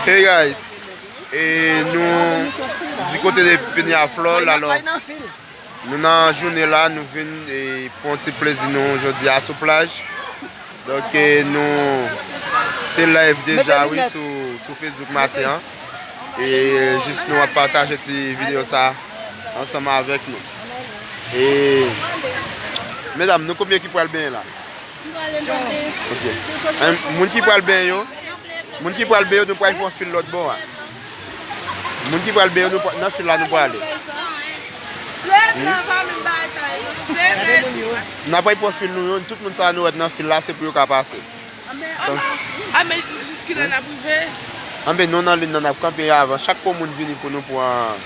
Hey guys, e nou di kote de Peñaflor alò nou nan jounen la nou vin e pon ti plezi nou jodi a sou plaj donk e nou te live deja wi sou Facebook maten an e jis nou ap pataje ti video sa ansanm avèk nou e medam nou konbyen ki pral benyen la? Moun ki pral benyen yo, moun ki pral benyen yo, nou pral fon fil lòt bon an. Moun ki pral benyen yo, nan fil la nou pral ale. Nan pral fon fil nou yo, tout moun sa nou wèd nan fil la, se pou yo ka pase. Anbe nou nan lin nan ap kanpe avan, chak pou moun vini pou nou pran.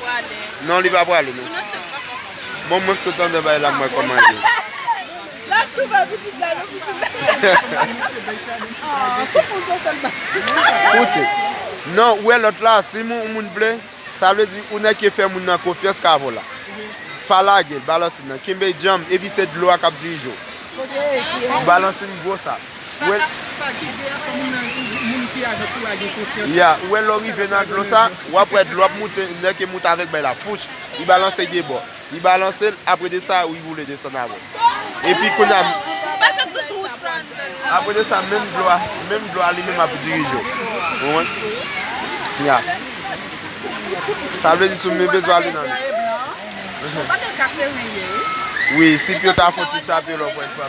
Prale. Non li pa prale non. Mwen sot pa konprann. Bon mwen sot andan bay la m wè kòman l ye. La tou bay pitit la non pitit la. Aww tout moun son sèl bagay. Koute. Non ou wè lòt la si yon moun vle sa vle di yon nèg ki fè moun nan konfyans ka avèw la. Pa lage l balansin nan kenbe djanm epi se dlo a k ap dirije w. Balansin gwo sa. Sa kap sa ki gen an fò moun nan moun ki ajan kou a gen konfyans. Ya ou wè lè w rive nan dlo sa w ap wè dlo ap moute nèg ki moute avèk bay la fouch li balanse de bò li balanse l apre de sa li boule desann avè l epi kounya apre de sa menm dlo a menm dlo a li menm ap dirije w konprann ya sa vle di si w bezwen ale nan wi si pye ta fouti chape l anko yon fwa